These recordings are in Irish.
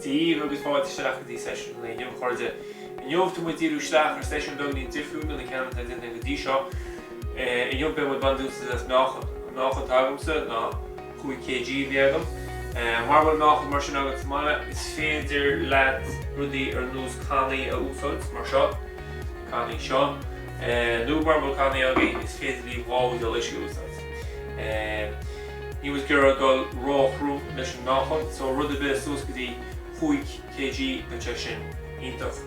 Dia daoibh agus fáilte isteach go dtí seisiún lae inniu a chairde. Inniu tá muid ag díriú isteach ar seisiún beagáinín difriúil do na ceanna atá déanta againn go dtí seo. Inniu beidh muid ag baint úsáid as meáchan. An meáchan atá agamsa ná 5 kg a bhí agam. Mara bhfuil meáchan mar sin agat sa mbaile is féidir leat rudaí ar nós cannaí a úsáid mar seo, cannaí seo. Nó mara bhfuil cannaí agaibh is féidir libh dhá bhuidéal a úsáid. Níl tú ag iarraidh dul róthrom leis an meáchan so rud ar bith suas go dtí 5 kg beidh sé sin iontach.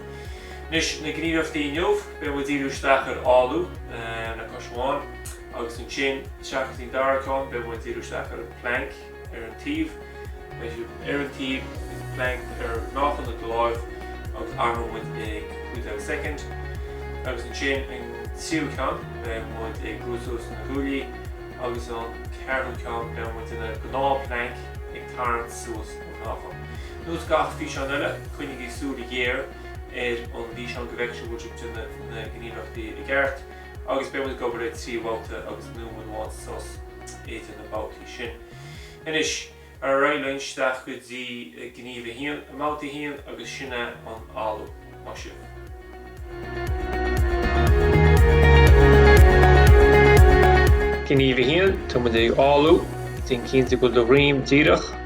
Anois na gníomhaíochtaí inniu, beidh muid ag díriú isteach ar áladh le cois amháin agus ansin isteach go dtí an dara ceann beidh muid ag díriú isteach ar an plank. ar an taobh beidh siad ar an taobh is pleanc ar mheáchan na gcláimh agus athróidh muid é cuid dha soicind agus ansin an tríú ceann beidh muid ag brú suas na guaillí agus an ceathrú ceann beidh muid i ngnáth pleanc ag tarraingt suas an mheáchan. Nós gach físeán eile coinnigí súil ghéar ar an bhfíseán go bhfeicfidh muid ag déanamh na gníomhaíochtaí i gceart. agus beidh muid ag obair le trí bhabhta agus nóiméad amháin sos idir na babhtaí sin. Anois, ar aghaidh linn isteach go dtí Gníomh a haon, babhta a haon, agus sin é an áladh, maith sibh. Gníomh a haon, tá muid ag áladh, déan cinnte go bhfuil do dhroim díreach.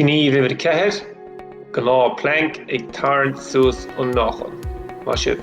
Gníomh uimhir a ceathair, Gnáth plank ag tarraingt suas an meáchan. Maith sibh.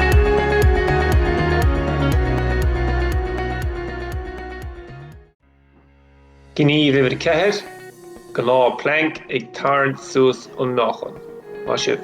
Gníomh uimhir a ceathair, Gnáth plank ag tarraingt suas an meáchan. Maith sibh.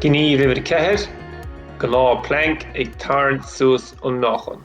Gníomh uimhir a ceathair, Gnáth plank ag tarraingt suas an meáchan.